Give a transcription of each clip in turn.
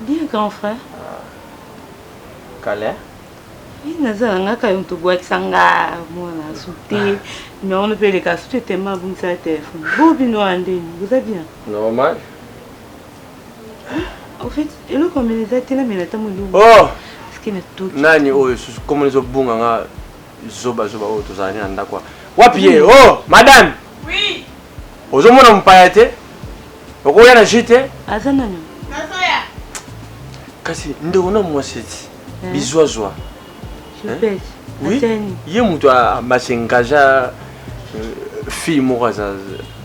Bien grand frère. Ah. Kale. naza na ngaka yo tobwakisa nga mwana sute numero no mpe eleka sute tema abungisa telefone bo bino ya ndeni boza bien normal au fait eloko mene eza te namela ntango eloko oh! nani oyo susu komo ezobunga nga Zoba zoba oyo tozala ne na ndako wa. Wapi ye? Hmm. Oh, madame. Oui. Ozo mona mpaya te? Okoya na jus te? Aza nani? Nazoya. Kasi ndeko na mwasi ti. Hmm. Bizwa zwa. Je pèse. Oui. Ateni. Ye mutu a ba s'engager fille moko aza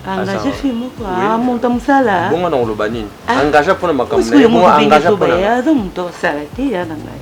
engage fille moko amonta mosala bongo na koloba nini engage mpona makambo na ye bongo engage mpona aza moto asala te ya na ngai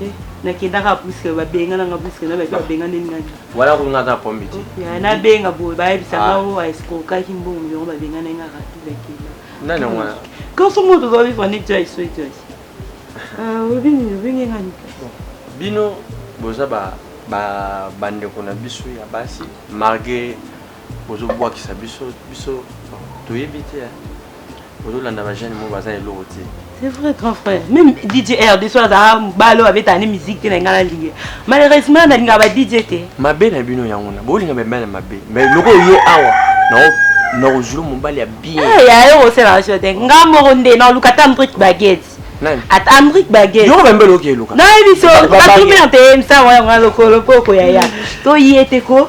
Eh, nakendaka puske babengananga puske na bato babengani nani wala kungaka pombi te nabenga boye bayebisa ah. ngao aeskrokaki mbongo yango babengana ngaka tubakenda nani yango wana kanso mo tozwa vivre nde jai so jai obini obenge ngani bino boza bandeko na biso ya basi malgre bozobwakisa biso biso toyebi te ozolanda ba jeune mo baza eloko te c'est vrai grand frère même dj rdc aza ah, balo abetaka ne musique te na ngai nalingi malheureusement nalingaka ba dj te mabe na bino yango na bolinga bebe na mabe mais loko ye awa nakozula mobali ya bien eh, ya yo koselaka sio te nga moko nde naluka ta mbrique baguette ata amrik bageyoka bambe loki eluka nayebi so batumbi na te msango yango na lokolo mpo okoyaya toye te ko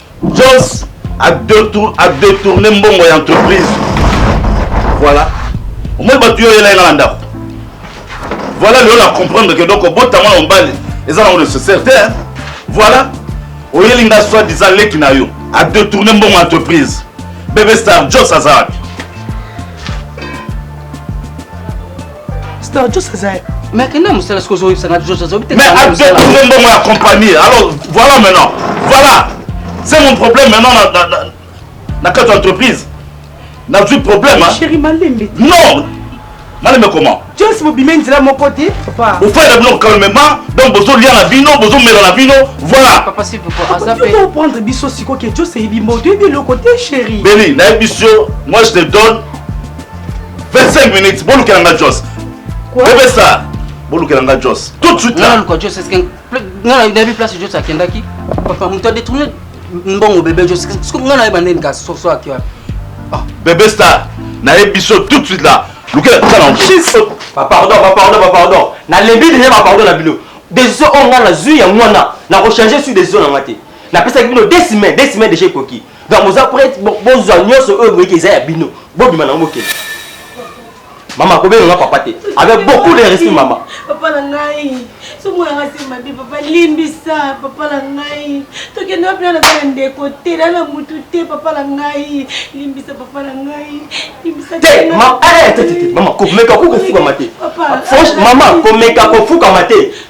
Joss a detour a detourner mbongo ya entreprise. Voilà. Omoni bato yo yela yela na ndako. Voilà lelo na comprendre que donc obota mwana mobali eza nango nécessaire te. Voilà. Oyeli nga soit disant leki na yo a detourner mbongo ya entreprise. Bebe Star Joss aza wapi? Star Joss aza mais akenda mosala soki ozoyebisa nga Joss azobi te mais abetouze mbongo ya compagnie alors voilà maintenant voilà c'est mon problème maintenant na, na, na, na kati ya entreprise nazwi problème chéri malembe non malembe comment jones mobima nzela moko te papa ofanda bino calmement donc bozolia na bino bozomela na bino voilà papa s'il vous plaît aza pe prendre biso siko ke jones eyebi mbo toyebi eloko te chéri beli nayebi biso moi je te donne 25 minutes bolukela nga jos bebe star bolukela nga jos tout de suite là jos est-ce que nga na bi place jos akendaki papa mutu a détourné mbongo bebe jos est-ce que nga na yeba nini ka so so akio ah. bebe star na ye biso tout de suite là lukela nga na jesus ba pardon ba pardon ba pardon na lembi déjà ba pardon na bino décision oyo nga nazwi yango wana nakochange sur décision na nga te napesaki bino deux semaine deux semaine déjà ekoki Donc boza prête bozwa nyonso oyo boyeki eza ya bino bobima nango bokende mama akobenga nga papa te avec beaucoup de respect mama papa na ngai somo yanga se mabe papa limbisa papa na ngai tokende wapi nana na ndeko te na na mutu te papa na ngai limbisa papa na ngai limbisa te eh, mama komeka ko kofukama te mama komeka kofukama te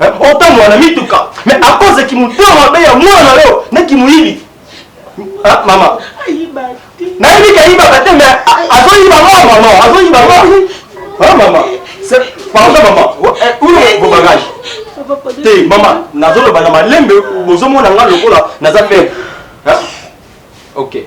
otambola na mituka me akoze kimotema mabe ya mwana na yo na kimoyibi ah, mama nayebi kayibaka te me azoyiba nga mama azoyiba nga ah, mama pardon mama uno eh, eh, bobagage te mama nazoloba na malembe bozomona nga lokola naza faible ok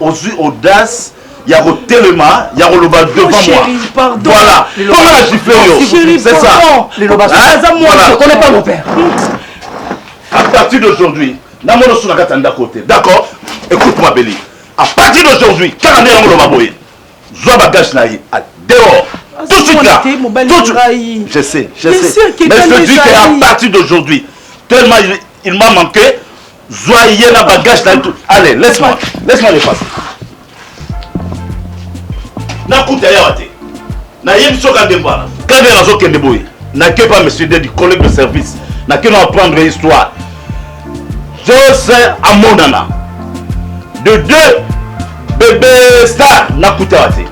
ozui audace ya kotelema ya koloba devant moi voilà mpo nga na gifle yo c'est ça à partir d'aujourd'hui namona osu na kati ya ndako te d'accord écoute moi beli à partir d'aujourd'hui kaka nde yango loba boye zwa bagage na ye dehors tout de suite là tout de suite je sais je sais mais je te dis qu'à partir d'aujourd'hui tellement il, il m'a manqué Zwa ye na bagage na tout. Allez, laisse-moi. Laisse-moi le passer. Nakuta yawa te. Na ye biso ka dembana. Quand bien azo kende boye. Na que pas monsieur Dedi, collègue de service. Na que na apprendre histoire. Jose Amonana. De deux bebe star nakutaka te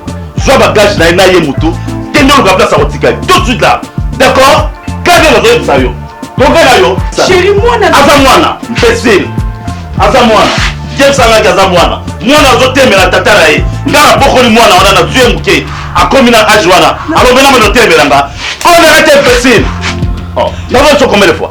zwa bagage na ye na ye moto kende oluka place akotika ye tout de suite là d'accord kaka nazoyebisa yo tokela yo aza mwana imbecile aza mwana james angaki aza mwana mwana azotemela tata na ye nga nabokoli mwana wana na zwi ye moke akomi na age wana alobela mano otemela nga olerete imbecile nazoso combien de fois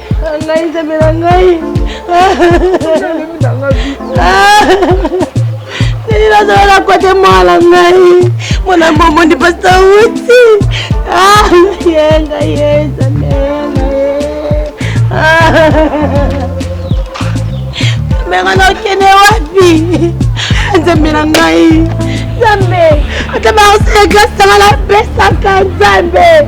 ngai nzambe na ngai nini nazala na kote mwana ngai mwana mbombo ndi pasta uti yenga yezamena menga nakende wapi nzambe na ngai nzambe ata baosala klasanga napesaka nzambe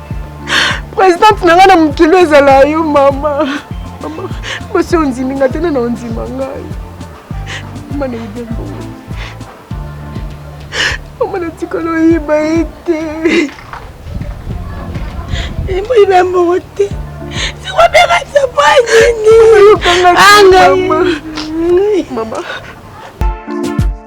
Presidente na nga na mokili ezala yo mama. Mama, mwasi ondimi nga te na na ondima ngai. Mama na yebe mbongo. Mama na tikala oyiba ye te. Yembo yiba mbongo te. Siko beka tsepo nini? Anga. Mama.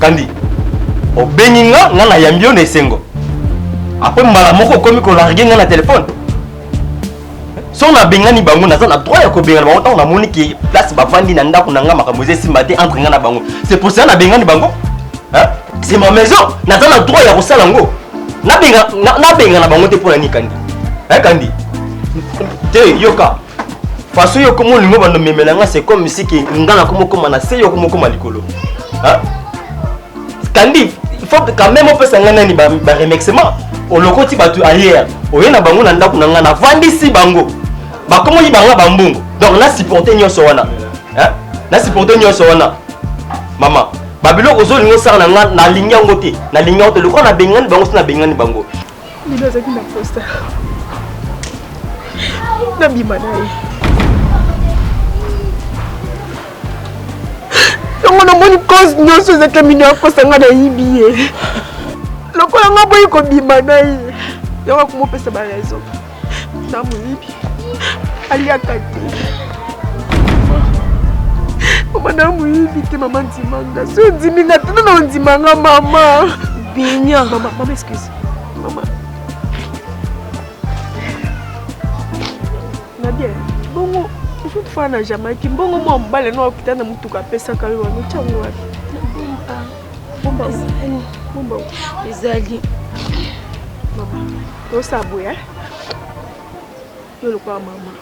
Kandi, obengi nga, nga na yambi yo na esengo. Après mbala moko okomi ko larguer nga na téléphone. So na bengani bango naza na droit ya ko bengana bango tango na moni ki place ba vandi na ndako na nga makambo eza esimba te entre nga na bango. C'est pour ça na bengani bango. Hein? C'est ma maison, naza na droit ya ko sala ngo. Na benga na, na benga na bango te pona ni kandi. Hein kandi? Te yoka. façon yo komo lingo bando memela nga c'est comme si que nga na komo koma na se yo komo koma likolo hein kandi il faut quand même opesa nga nani ba, ba remexement olokoti bato ayer oye na bango na ndako na nga navandisi bango bakomo yiba nga bambongo donc na supporte nyonso wana hein na supporte nyonso wana mama babiloko ozolinga osala na nga nalingi yango te nalingi yango te lokola nabengani bango so nabengani bango Lilo azalaki na posta nabima na ye yango namoni cause nyonso ezaki mino akosa ngai nayibi ye lokola ngai boyi kobima na ye yango akomopesa baraison na moyibi aliaka te mama na moyibi te mama ndima nga so ondimi nga tena na ondima nga mama binia mama mama excuse mama na bien bongo osutu fana na jamaïque mbongo mwa mobale na okita na motuka apesaka yo wana otyango wapi Bumba ezali. Bumba ezali. Tosa boye. Eh? Yo lokola mama.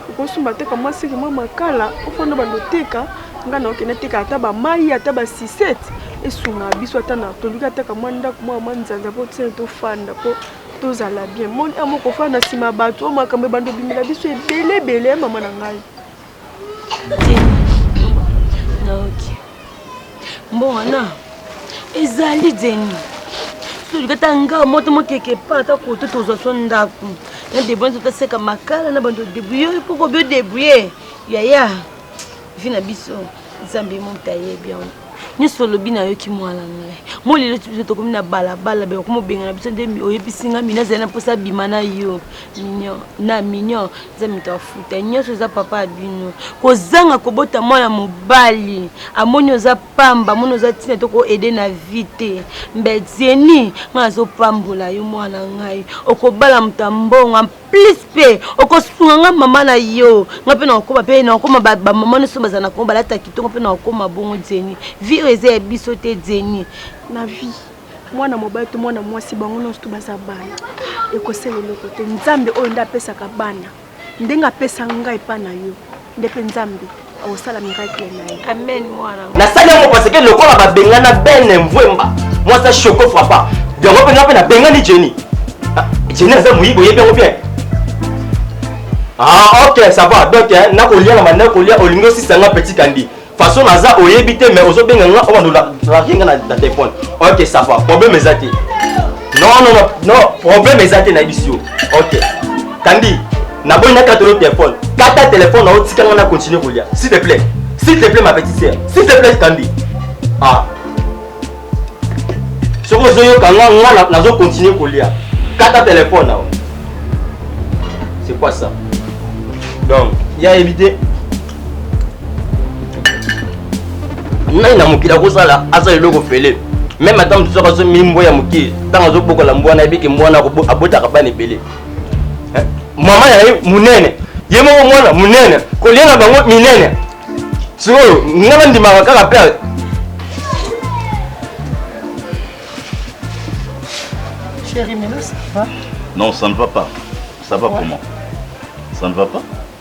Okosumba teka mwasi kima makala ofanda bando teka nga na okende teka ata bamai ata basisete esunga biso ata na toluki ataka mwa ndako mwa mwa nzanza mpo tisene tofanda mpo tozala bien moni amo kofanda nsima bato oyo makambo ebanda obimela biso ebele ebele ya mama na ngai mbongo wana ezali zeni soki ata nga moto mokeke pa ata koto tozwa so ndako na debrouille nzoto aseka makala na bando debrouille mpo kobi odebrouille yaya vi na biso nzambe moto ayebi yango nyonso olobi nayoki mwana ngai mo lelo biso tokomi na balabala be okoma obengana biso nde oyebisi ngai mino azali na mposa abima na yo mignon na mignon eza moto afuta nyonso eza papa ya bino kozanga kobota mwana mobali amoni oza pamba amoni oza ntina to koede na vie te mbedzeni ngai azopambola yo mwana ngai okobala moto ya mbongo plus pe okosunga nga mama na yo nga mpe nakokoma mpe nakokoma bamama nyonso bazala na kongo balata kitoko mpe nakokoma bongo jeni vi oyo eza ya biso te jeni na vi mwana mobali to mwana mwasi bango nyonso to baza bana ekosala eloko te nzambe oyo nde apesaka bana ndenge apesa ngai epai na yo nde mpe nzambe Osala miracle na ye. Amen mwana. Nasali yango parce que lokola babengana Ben Mvwemba, moi ça choco frappa. Yango mpe nga mpe nabengani Jenny. Ah, Jenny aza moyibi oyebi yango bien. Ah ok ça va donc hein, nakolia na banda kolia olingi osisa nga petit kandi. Façon naza oyebi te mais ozobenga nga oyo nolaki nga na telefone. Ok ça va problème eza te. Non non non non problème eza te nayebisi yo. ok kandi naboyi nakata yo telefone kata telefone na yo tika nga na continue kolia s'il te plaît s'il te plaît ma petite sœur s'il te plaît kandi ah soki ozoyoka nga nga nazo continue kolia kata telefone na yo c'est quoi ça donc ya éviter nani na mokili akosala asala eloko fele meme ata mosusu aka azomeli mbwa ya moke ntango azobokola mbwa nayebi ke mwana abotaka bana ebele eh, mama na ye monene ye moko mwana monene kolia na bango minene sikoyo nga bandimaka kaka pere Chérie, mais là, ça va Non, ça ne va pas. Ça va ouais. comment Ça ne va pas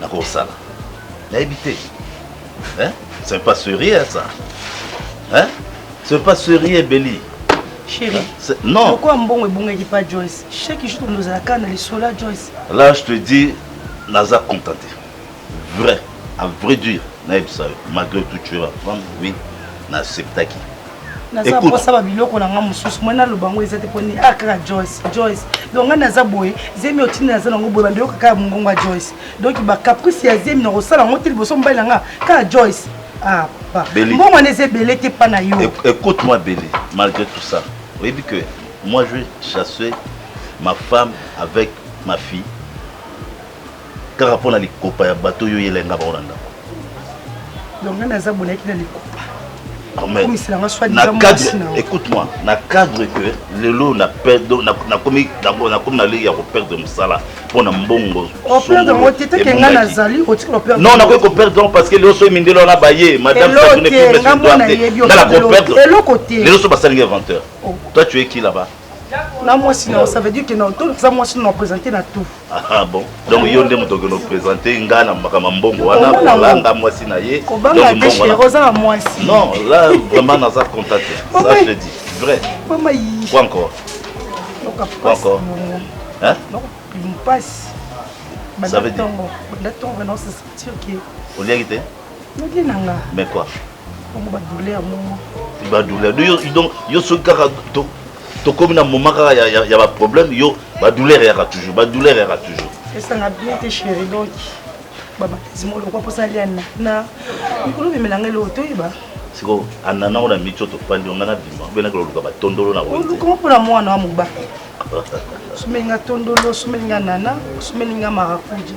nakosala nayebi te hein? ce n'est pas sérieux ça hein? ce n'est pas sérieux beli Chérie, hein? non pourquoi mbongo ebungaki pas Joyce chaque jour nous allons na lisola Joyce là je te dis naza contenté vrai à vrai dire nayebisa yo malgré tout tu es ma femme oui naacceptaki naza mposa ba biloko na nga mosusu moi naloba yango eza te mpo nini ah kaka joyce joyce donc ngai naza boye zemi otindi naza nango boye bando yoka kaka mongongo ya joyce donc bacaprice ya zemi nakosala yango te liboso mobali na nga kaka joyce ah papa mbongo wana eza ebele te mpa na yo écoute moi bele malgré tout ça oyebi que moi je chasse ma femme avec ma fille kaka mpo na likopa ya bato oyo oyela enga bango na ndako donc ngai naza bolaki na likopa écoute-moi na cadre que lelo nakomi na lei ya koperdre mosala mpo na mbongo non nakoki koperdre yango parce que lelo soki mindele wana baye madamelelo so basalingi inventeur toi tu es qui là-bas na mwasi na ça veut dire que na auto ça mwasi na présenter na tout ah bon donc yo nde moto okende présenter nga na makambo mbongo wana kolanga mwasi na ye kobanga te chéri oza na mwasi non là vraiment naza contacté ça je dis vrai mama yi quoi encore quoi encore hein mpasi banda ntongo banda ntongo na osesentir ke oliaki te Midi na nga. Mais quoi? Bongo ba douleur mongo. Ba douleur. Yo donc yo soki kaka to to komi na moment kaka ya ya, ya ba problème yo ba douleur ya toujours. Ba douleur ya toujours. Esa nga bien te chérie donc. Ba ba zimo lokwa posa lia na. Na mikolo bimela ngai lo toyeba. Siko anana ona micho to pandi ngana bima. Bena ko luka ba tondolo na wewe. Ko ko na mwana wa muba. Sumenga tondolo, sumenga nana, sumenga marakuja.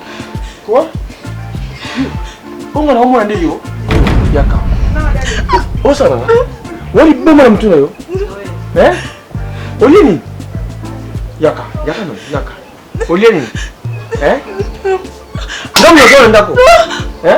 Quoi? Bongo na omona nde yo? Yaka. Osala na. Wali bongo na mtu na yo. Eh? Olie nini? Yaka, yaka no, yaka. Olie nini? Eh? Ngambo na ndako. Eh?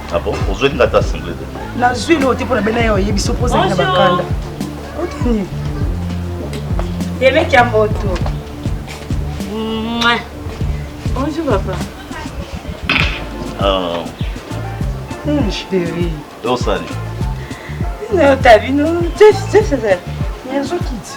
Ah bon ozweli nga ta single te nazwi leo te mpo na bena yo oyebi so mpo ozali na bakanda otani yemeki ya moto bonjour papa ah. hmm, chéri osali nayo tabino jefezali nazo kiti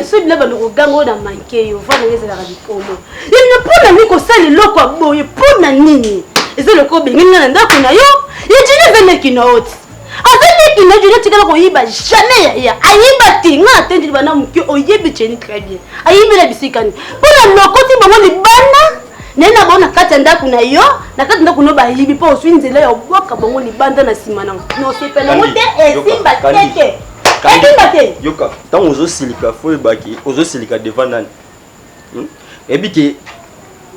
esoyebila bando koganga oyo na manke yo vana yo ezalaka likolo yebina mpo na nini kosala eloko ya boye mpo na nini eza eloko obengeli nga na ndako na yo ye jini eza leki na oti aza leki na jini otikala koyiba jamais yaya ayiba te nga atendeli bana moke oyebi jeni très bien ayibi na bisika nini mpo na lokoti bango libanda naye na bango na kati ya ndako na yo na kati ndako no bayibi mpo oswi nzela ya obwaka bango libanda na nsima na nosepela yango te esimba tete ekimba te yoka ntango ozosilika fo oyebaki ozosilika devant nani hmm? eyebi ke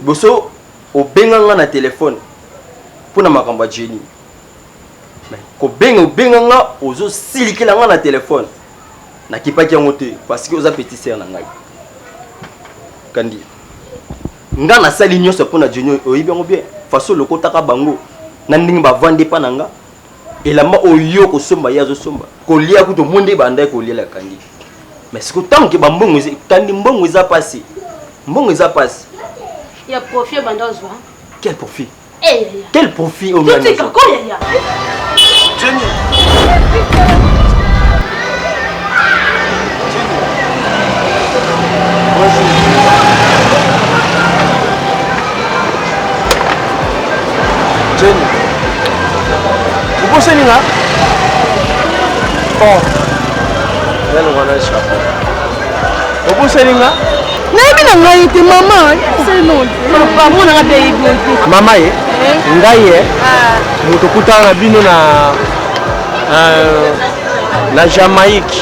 boso obenga nga na telefone mpo na makambo ya jeni kobenga obenga nga ozosilikela nga na telefone nakipaki yango te parce que oza petit sere na ngai kandi nga nasali nyonso mpo na jeni oyebi yango bien faso lokotaka bango na ndenge bavandi epa na nga Elamba oyo yo okosomba ye azosomba kolia kutu omoni nde ebanda ye kolia la kandi mais siko ntango ke bambongo eza kandi mbongo eza mpasi mbongo eza mpasi ya profit ebanda ozwa quel profit eh, yaya. quel profit oyo nani totika azwa? ko yaya obosani nga oh. obosani nga nayebi na ngai te mama mama ye eh? ngai ye eh? ah. moto okutana na bino na euh, na jamaïque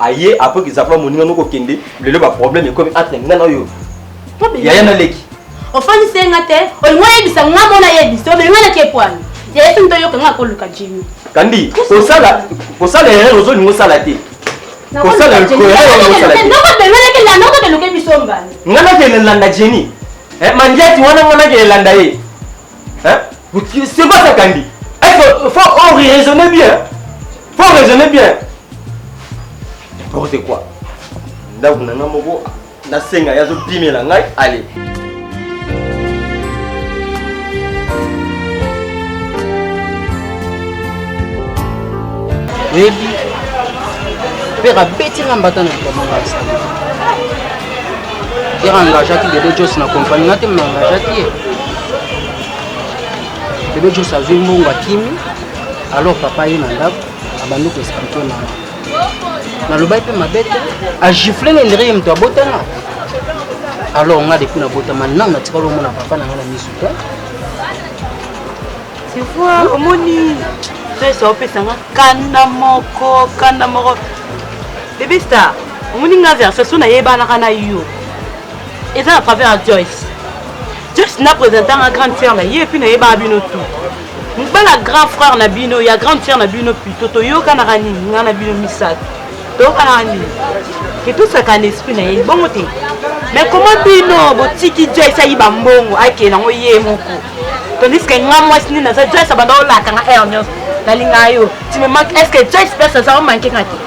aye après que zakola moninga noko kende lelo ba problème ekomi entre nga na yo yaya na leki ofani senga te olingo yebisa nga mona yebisa olingo na ke pwani yaya tuni toyoka nga koluka jimi kandi kosala kosala erreur ozolingo osala te kosala nga nakende landa jeni eh, mandiati wana nga nakende landa ye Hein? C'est quoi ça, Candy Il faut oh, raisonner bien. faut raisonner bien. N'importe quoi. ndako na ngai moko nasenga ye azopimela ngai ale oyebi pere abeti nga mbata na likambo ngai asali Pierre engageaki Bebe Jos na kompani na te me engageaki ye Bebe Jos azwi mbongo akimi alors papa ye na ndako abandi koexplike mama nalobaki mpe mabe te agifle na ndenge ye moto abotana alors nga depuis nabotama nanu natikali omona papa na nga na misu te sevoir omoni pesa opesanga kanda moko kanda moko Bebe star, omoni nga version so nayebanaka na yo. Eza na travers ya Joyce. Joyce na presenta nga grande sœur na ye epuis nayebaka bino tout. Mobala grand frère na bino ya grande sœur na bino plutôt toyokanaka nini nga na bino misato. Toyokanaka nini? Ke tosaka na esprit na ye bongo te. Mais comment bino botiki Joyce ayiba mbongo akende yango ye moko. Tandis que nga mwasi nini naza Joyce abanda olaka nga heure nyonso. Nalinga yo. Tu me manques. Est-ce que Joyce place aza omanke nga te?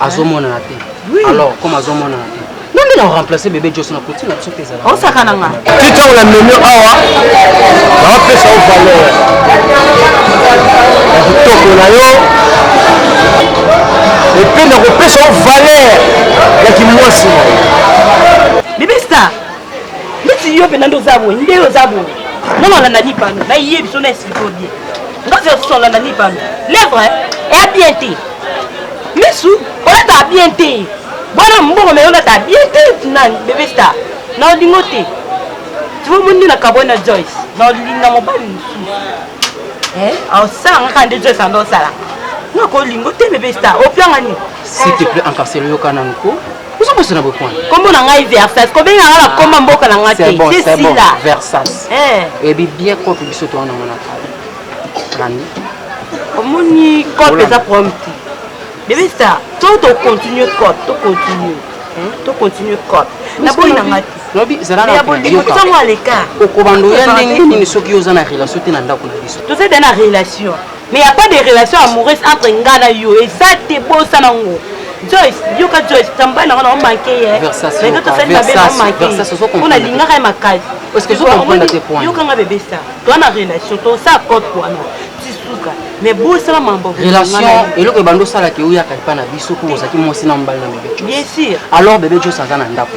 azomonana te alors comme azomonana te nonde na remplace bebe jos na koti na biso te ezala osakana nga ti ntango na memi awa naopesa yo valeur ya kitoko na yo epe nakopesa yo valeur ya kimwasi na yo bebe star ndeti yo mpenza nde oza boye nde oza boye nonalanda lipano nayebi so na esiko bien ngozi osola na libano lèvre eya bien te misu olataka bien te bwana mbongo me olataka bien te nani bebe star na olingo te tivo mondi na kabwe na joyce na olinga mobali mosusu eh, aosanga kaka nde joyce anda osalaka nakolingo te bebe star opianga nini s'il te plaît ankaselo yoka nanko oza bosana boye kuna kombo na ngai versas kobenga nga bakoma mboka na ngai te sila versas eyebi bien kope biso towana ngo na kala landi omoni kope eza problème te bebe star to tocontinue kope tocontinue tocontinue kope naboyi na ngai lobi zalaaokobandoya ndenge nini soki oza na relation te na ndako na biso toza da na relation mais ya pas de relation amoureuse entre nga na yo eza te bosana ngo joyce yoka joyce tamba nanga na omanke ye lelo tosali mabe na omanke mpo nalingaka ye makasi yokanga bebe sa toa na relation tosala cote wana tisuka mais bosala mambo relation eloko ebanda osalaka euyaka epa na biso mpo ozalaki mwasi na mobali na bebe bien sûr alors bebe jos aza na ndako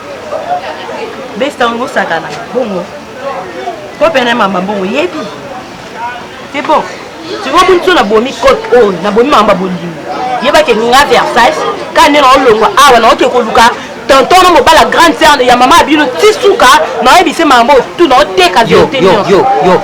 besta yango osakana bongo kope na mamba bongo yebi c'est bon sikoyo boni so nabomi cote oyo oh, nabomi mamba bolingo yebake nga versace ka nde naolongwa awa naoke koluka tonton na mobala grande serne ya mama abino ti suka naoyebise mamba otu naoteka yo yo yo